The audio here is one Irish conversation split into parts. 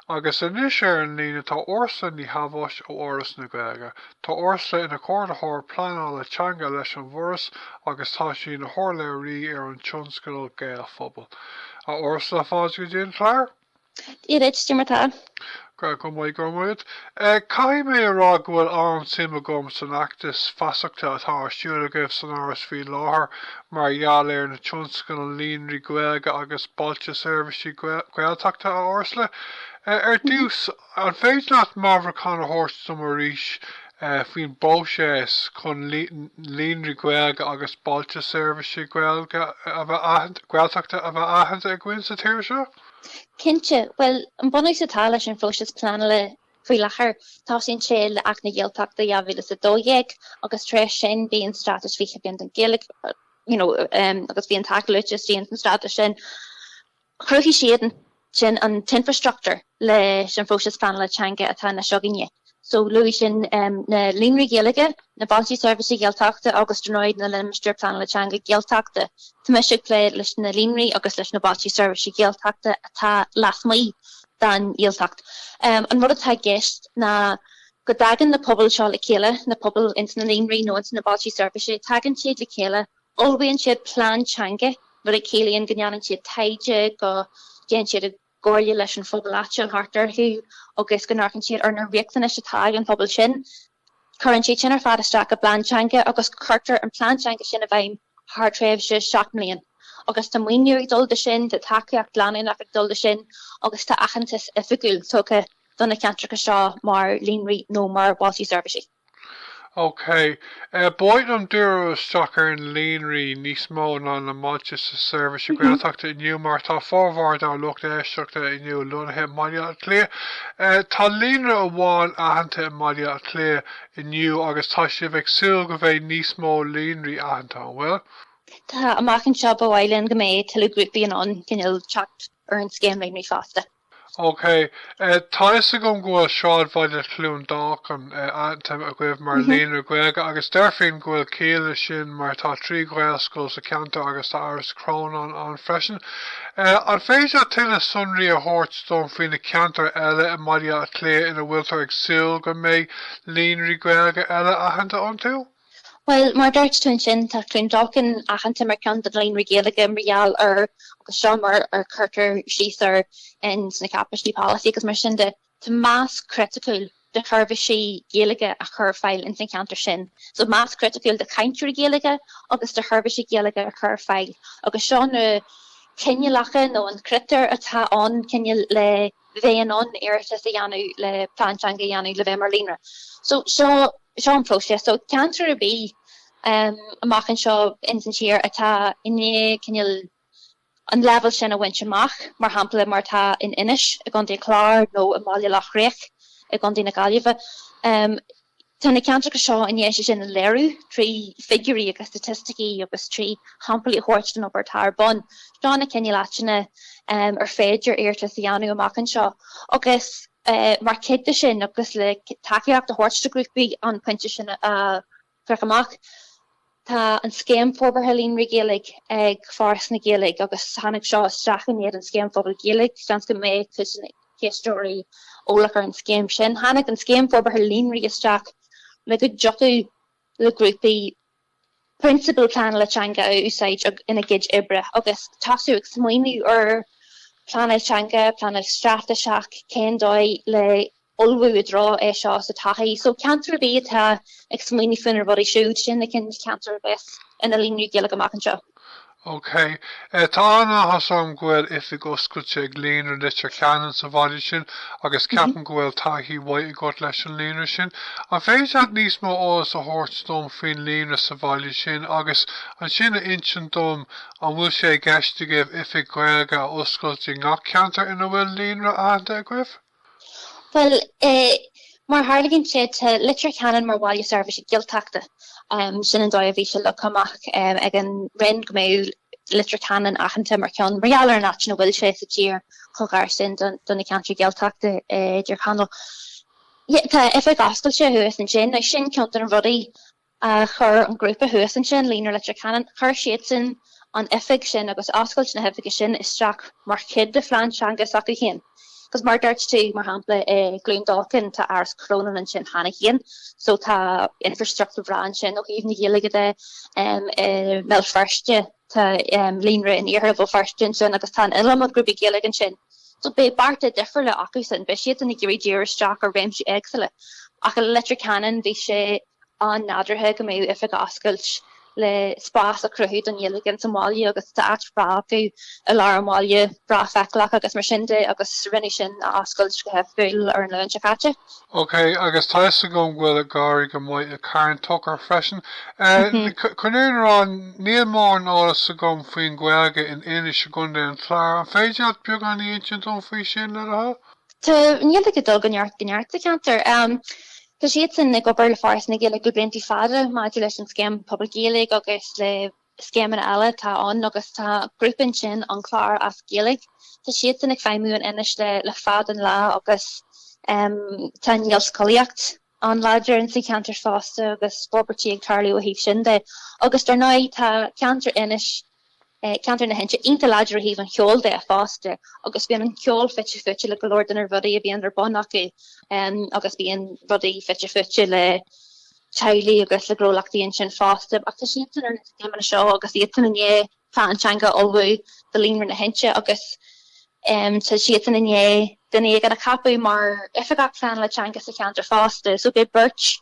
Agus anois ar an líne tá Ursula Ní Shabháis ó Fhoras na Gaeilge. Tá Ursula ina Comhordaitheoir Pleanála Teanga leis an bhForas agus tá sí ina hurlabhraí ar an tionscadal Gaelphobal. A Ursula, fáilte go dtí an clár! Dia duit, cad é mar atá tú? Go maith, go maith. Caithfidh mé a rá go bhfuil an-suim agam san fheachtas feasachta atá ar siúl agaibh san Fhoras faoi láthair mar gheall ar na tionscadail Líonraí Gaeilge agus Bailte Seirbhíse Gaeltachta a fhorbairt. Ar dtús, an féidir leat meabhrúchán a thabhairt dom arís faoin bpróiseas chun Líonraí Gaeilge agus Bailte Seirbhíse Gaeltachta a bheith aitheanta againn sa tír seo? Cinnte, bhuel, an bunús atá leis an phróiseas pleanála Faoi láthair, tá sé in Acht na Gaeltachta 2012 agus tar éis sin bhí an Straitéis 20 Bliain don Ghaeilge agus bhí an tAcht ag tacú leis an Straitéis sin. Chruthaigh siad ansin an t-infreastruchtúr leis an phróiseas pleanála teanga atá anois againne. So, luaigh sin na líonraí Gaeilge, na bailte seirbhíse Gaeltachta agus dar ndóigh na limistéir pleanála teanga Gaeltachta. Tá mise ag plé leis na líonraí agus leis na bailte seirbhíse Gaeltachta atá lasmuigh den Ghaeltacht. An rud atá i gceist ná go dtagann na pobail seo le chéile, na pobail ins na líonraí nó ins na bailte seirbhíse, tagann siad le chéile, ullmhaíonn siad plean teanga, rud a chiallaíonn go ndéanann siad taighde, go dtéann siad i gcomhairle leis an phobal áitiúil thart orthu agus go n-amharcann siad ar na riachtanais atá ag an phobal sin. Cuireann siad sin ar fad isteach i bplean teanga agus cuirtear an plean teanga sin i bhfeidhm thar thréimhse seacht mbliain agus tá maoiniú ag dul do sin, tá tacaíocht leanúnach ag dul do sin agus tá aitheantas oifigiúil tugtha do na ceantracha seo mar líonraí nó mar bhailte seirbhíse. OK. Ba mhaith liom díriú isteach ar na líonraí níos mó ná na bailte seirbhíse Gaeltachta inniu mar tá formhór dár lucht éisteachta inniu lonnaithe i mBaile Átha Cliath. Tá líonra amháin aitheanta i mBaile Átha Cliath inniu agus tá sibh ag súil go mbeidh níos mó líonraí aitheanta, an bhfuil? Tá, amach anseo ba mhaith linn go mbeadh tuilleadh grúpaí in ann teacht ar an scéim líonraí fosta. OK. Tá 'fhios agam go bhfuil Sráidbhaile Chluain Dolcáin aitheanta agaibh mar líonra Gaeilge agus déarfainn go bhfuil ciall leis sin mar tá trí Ghaelscoil sa cheantar agus tá Áras Chrónáin ann freisin. An féidir tuilleadh sonraí a thabhairt dom faoi na ceantair eile i mBaile Átha Cliath ina bhfuiltear ag súil go mbeidh Líonraí Gaeilge eile aitheanta iontu? Bhuel, mar a dúirt tú ansin, tá Cluain Dolcáin aitheanta mar cheann de na Líonraí Gaeilge mar gheall ar agus seo mar ar cuirtear síos air ins na cáipéisí polasaí agus mar sin de. Tá mais chriticiúil de sheirbhísí Gaeilge a chur ar fáil ins an cheantar sin, so mais chriticiúil de chainteoirí Gaeilge agus de sheirbhísí Gaeilge a chur ar fáil agus seo na coinníollacha nó na critéir atá ann cineál le bheith in ann iarratas a dhéanamh le plean teanga a dhéanamh le bheith mar líonra. So seo seo an próiseas. So ceantar ar bith amach anseo ins an tír atá i ndiaidh cineál an leibhéal sin a bhaint amach, mar shampla, mar atá in Inis i gContae an Chláir nó i mBaile Loch Riach i gContae na Gaillimhe. Tá na ceantracha seo i ndiaidh é sin a léiriú trí figiúirí agus staitisticí agus trí shamplaí a thabhairt den obair atá ar bun. Seo na cineál áiteanna ar féidir iarratas a dhéanamh amach anseo agus mar chuid de sin agus le tacaíocht a thabhairt do ghrúpaí an pointe sin a bhaint amach, tá an Scéim Forbartha Líonraí Gaeilge ag Foras na Gaeilge agus tháinig seo isteach i ndiaidh an Scéim Phobail Gaeilge. Seans go mbeidh cuid de na héisteoirí eolach ar an scéim sin. Tháinig an Scéim Forbartha Líonraí isteach le go dtiocfadh le grúpaí prionsabail pleanála teanga a úsáid ina gcuid oibre agus tosú ag smaoineamh ar phleanáil teanga, pleanáil straitéiseach, cén dóigh le. ullmhú i dtreo é seo sa todhchaí. So ceantar ar bith atá ag smaoineamh faoina rudaí siúd, sin na cineál ceantar a bheas ina Líonraí Gaeilge amach anseo. OK. Tá an-áthas orm go bhfuil oifig oscailte ag Líonra Leitir Ceanainn sa bhaile sin agus ceapaim go bhfuil taithí mhaith agat leis an líonra sin. An féidir leat níos mó eolais a thabhairt dom faoin líonra sa bhaile sin agus ansin a insint dom an bhfuil sé i gceist agaibh oifig Ghaeilge a oscailt i ngach ceantar ina bhfuil líonra aitheanta agaibh? Bhuel, mar a tharlaíonn sé, tá Leitir Ceanainn mar bhaile seirbhíse Gaeltachta. Sin an dóigh a bhí sé leagtha amach ag an Roinn go mbeadh Leitir Ceanainn aitheanta mar cheann mar gheall ar an áit ina bhfuil sé sa tír chomh gar sin do na ceantair Ghaeltachta i dTír Chonaill. Tá oifig oscailte thuas ansin, sin ceann de na rudaí Chuir an grúpa thuas ansin Líonra Leitir Ceanainn, chuir siadsan an oifig sin agus oscailt na hoifige sin isteach mar chuid de phlean teanga s'acu féin. Agus mar a dúirt tú, mar shampla, i gCluain Dolcáin, tá Áras Chrónáin ansin cheana féin, so tá infreastruchtúr breá ansin ó thaobh na Gaeilge de. I mBéal Feirste, tá líonra in iarthar Bhéal Feirste ansin agus tá an iliomad grúpaí Gaeilge ansin. So beidh bearta difriúla acusan, beidh siadsan ag iarraidh díriú isteach ar réimsí éagsúla. Ach i Leitir Ceanainn, bhí sé. an-nádúrtha go mbeadh oifig oscailt le spás a chruthú don Ghaeilge ins an bhaile agus tá áit bhreá acu i lár an bhaile, breá feiceálach agus mar sin de agus rinneadh sin a oscailt go hoifigiúil ar an Luan seo caite. OK, agus tá 'fhios agam go bhfuil ag éirí go maith i gCarn Tóchair freisin. Chun an fhírinne a rá, níl mórán eolas agam faoin Ghaeilge in Inis i gContae an Chláir, an féidir leat beagán a insint dom faoi sin, le do thoil? Tá an Ghaeilge ag dul ó neart go neart sa cheantar. Tá siadsan ag obair le Foras na Gaeilge le blianta fada maidir leis an Scéim Phobail Gaeilge agus le scéimeanna eile atá ann agus tá grúpa ansin, An Clár as Gaeilge, tá siadsan ag feidhmiú in Inis le fad an lá agus tá an Ghaelscolaíocht an-láidir insa cheantar fosta agus forbairtí ag tarlú ó thaobh sin de agus dar ndóigh tá ceantar Inis ceantar na hInse, iontach láidir ó thaobh an cheoil de fosta agus bíonn an ceol fite fuaite le go leor de na rudaí a bhíonn ar bun acu agus bíonn rudaí fite fuaite le teaghlaigh agus le gnólachtaí ansin fosta ach tá siadsan ar an scéim seo agus iad chun plean teanga a ullmhú do líonra na hInse agus tá siadsan chun duine éigin a cheapadh mar oifigeach pleanála teanga sa cheantar fosta so beidh beirt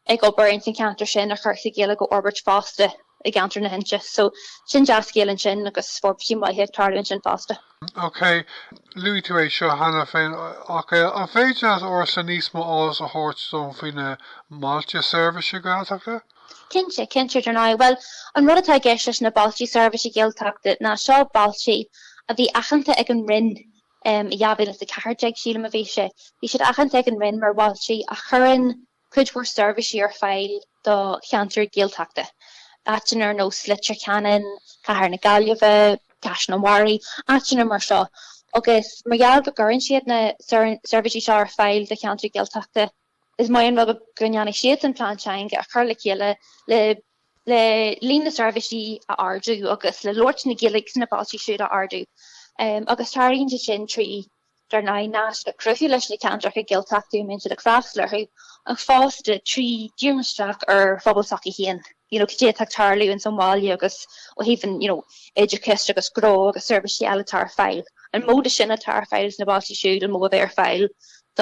ag obair ins an cheantar sin le cúrsaí Gaeilge a fhorbairt fosta i gceantar na hInse. So, sin dea-scéal ansin agus forbairtí maithe ag tarlú ansin fosta. OK, luaigh tú é seo cheana féin ach an féidir leatsa níos mó eolais a thabhairt dom faoi na Bailte Seirbhíse Gaeltachta? Cinnte, cinnte, dar ndóigh. Bhuel, an rud atá i gceist leis na Bailte Seirbhíse Gaeltachta ná seo bailte a bhí aitheanta ag an Roinn um, i 2014, sílim a bhí sé, bhí siad aitheanta ag an Roinn mar bhailte a chuireann, cuid mhór seirbhísí ar fáil do cheantair Ghaeltachta, áiteanna ar nós Leitir Ceanainn, cathair na Gaillimhe, Caisleán an Bharraigh, áiteanna mar seo, agus mar gheall go gcuireann siad na seirbhísí seo ar fáil do cheantair Ghaeltachta, is maith an rud go ndéanfaidh siadsan plean teanga a chur le chéile le líon na seirbhísí a ardú agus le labhairt na Gaeilge sna bailte siúd a ardú agus déanann siad sin trí Dar ndóigh, naisc a chruthú leis na ceantracha Gaeltachta a mbíonn siad ag freastal orthu, ach fosta trí dhíriú isteach ar phobal s'acu féin, you know, cad é atá ag tarlú ins an bhaile agus ó thaobh an, you know, oideachais agus gnó agus seirbhísí eile atá ar fáil. An mó de sin atá ar fáil sna bailte siúd, an mó a bheidh ar fáil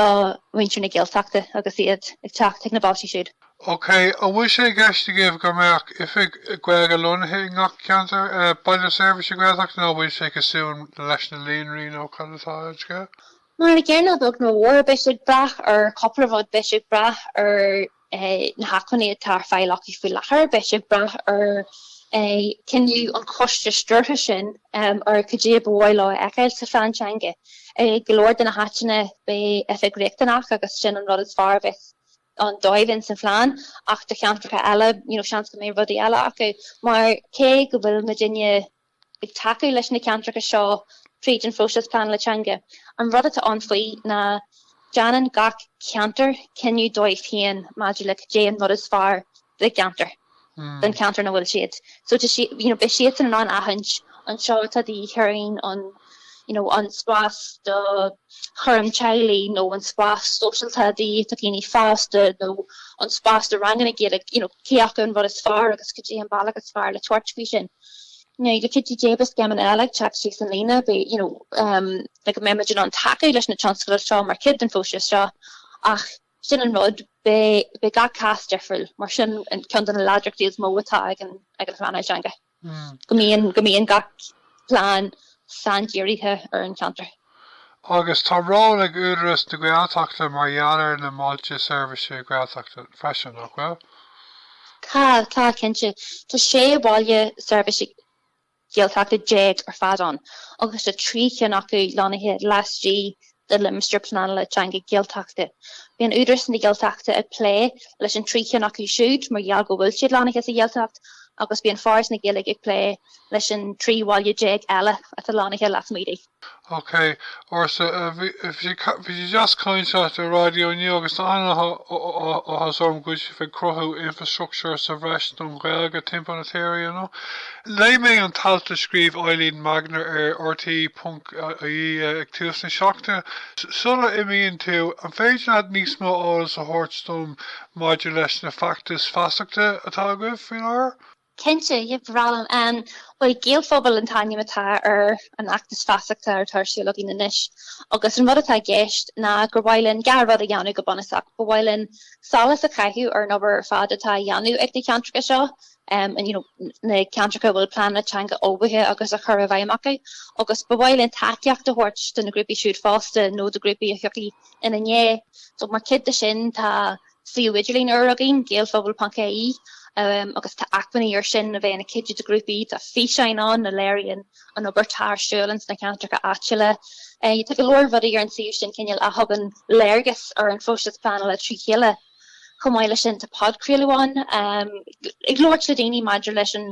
do mhuintir na Gaeltachta agus iad ag teacht chuig na bailte siúd. OK, an bhfuil sé i gceist agaibh go mbeadh oifig Gaeilge lonnaithe i ngach ceantar, Baile Seirbhíse Gaeltachta nó an bhfuil sé cosúil leis na líonraí nó cad é an scéal? Mar an gcéanna a bheag nó a mhór, beidh sé ag brath ar chúpla rud, beidh sé ag brath ar na hacmhainní atá ar fáil acu faoi láthair, beidh sé ag brath ar chinneadh an choiste stiúrtha sin ar cad é ba mhaith leo a fheiceáil sa phlean teanga. I go leor de na háiteanna beidh oifig riachtanach agus sin an rud is fearr a bheas ann dóibh ins an phlean ach do cheantracha eile, you know, seans go mbeidh rudaí eile acu. Mar cé go bhfuil muidinne ag tacú leis na ceantracha seo fríd an phróiseas pleanála teanga, an rud atá ann faoi ná déanann gach ceantar cinneadh dóibh féin maidir le cad é an rud is fearr don cheantar don cheantar ina bhfuil siad. So, you know, beidh siadsan in ann aithint an seo atá de dhíth orainn, you know, an spás do chúram teaghlaigh nó an spás sóisialta de dhíth do dhaoine fásta nó an spás do ranganna Gaeilge, you know, cé acu an rud is fearr agus cad é an bealach is fearr le tabhairt faoi sin. Now, le cuidiú Dé beidh scéimeanna eile ag teacht síos an líne, beidh, you know, um, like, go mbeimid in ann tacú leis na tionscadail seo mar chuid den phróiseas seo ach, Sin an rud, beidh gach cás difriúil, mar sin ceann de na láidreachtaí is mó atá ag an phleanáil teanga. Hmm. Go mbíonn go mbíonn gach plean saindírithe ar an cheantar. Agus tá ról ag Údaras na Gaeltachta mar gheall ar na mBailte Seirbhíse Gaeltachta freisin, nach bhfuil? Tá, tá cinnte. Tá sé bhaile seirbhíse Gaeltachta déag ar fad ann agus tá trí cinn acu lonnaithe laistigh de Limistéir Pleanála Teanga Gaeltachta. Bíonn Údarás na Gaeltachta ag plé leis an trí cinn acu siúd mar gheall go bhfuil siad lonnaithe sa Ghaeltacht agus bíonn Foras na Gaeilge ag plé leis an trí bhaile déag eile atá lonnaithe lasmuigh di. OK, Orla bhí sé go deas caint leat ar raidió inniu agus tá an-áthas orm go bhfuil sibh ag cruthú infreastruchtúr sa bhreis don Ghaeilge timpeall na tíre you know. Léigh mé an t-alt a scríobh Eilín Magner ar RTÉ.ie ag tús na seachtaine. Sula n-imíonn tú, an féidir leat níos mó eolais a thabhairt dom maidir leis na feachtais feasachta atá agaibh faoi láthair? Cinnte, yep, ba bhreá liom. Bhuel, Gaelphobal an t-ainm atá ar an fheachtas feasachta atá ar siúl againn anois agus an rud atá i gceist ná gur mhaith linn dhá rud a dhéanamh go bunúsach. Ba mhaith linn solas a chaitheamh ar an obair ar fad atá á dhéanamh ag na ceantracha seo, you know na ceantracha a bhfuil pleananna teanga ullmhaithe agus á gcur i bhfeidhm acu, agus ba mhaith linn tacaíocht a thabhairt do na grúpaí siúd fosta nó do ghrúpaí a thiocfaidh ina ndiaidh. So mar chuid de sin tá. suíomh idirlín úr againn, gaelphobal.ie, agus tá acmhainní air sin a bheadh ina gcuidiú do ghrúpaí, tá físeáin ann a léiríonn an obair atá ar siúl ins na ceantracha áitiúla. Tá go leor rudaí ar an suíomh sin cineál a thugann léargas ar an phróiseas pleanála fríd chéile. Chomh maith leis sin, tá podchraoladh ann ag labhairt le daoine maidir leis an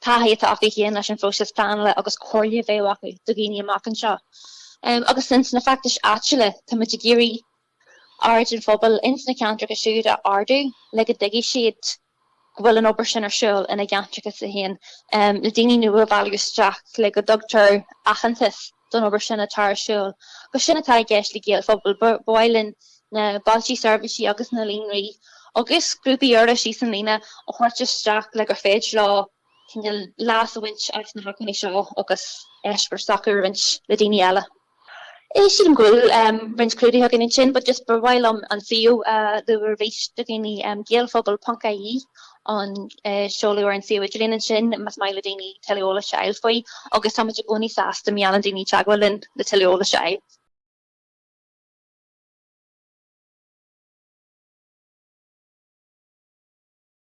taithí atá acu féin leis an phróiseas pleanála agus comhairle a bheadh acu do dhaoine amach anseo. Agus ins na feachtais áitiúla, táimid ag iarraidh aird an phobail ins na ceantracha siúd a ardú le go dtuigfidh siad go bhfuil an obair sin ar siúl ina gceantracha, A, le daoine nua a bhailiú isteach, le go dtugtar aitheantas don obair sin atá ar siúl. Agus sin atá i gceist le Gaelphobal, ba mhaith linn na bailte seirbhísí agus na líonraí agus grúpaí ar leith síos an líne a thabhairt isteach le gur féidir leo cineál leas a bhaint as na hacmhainní seo agus eispéireas s'acu a roinnt le daoine eile. Sílim go bhfuil roinnt clúdaithe againn ansin but just ba mhaith liom an suíomh a lua arís do dhaoine, gaelphobal ponc ie an seoladh ar an suíomh idirlín ansin más maith le daoine tuilleadh eolais a fháil faoi agus tá muid i gcónaí sásta má dhéanann daoine teagmháil linn le tuilleadh eolais a fháil.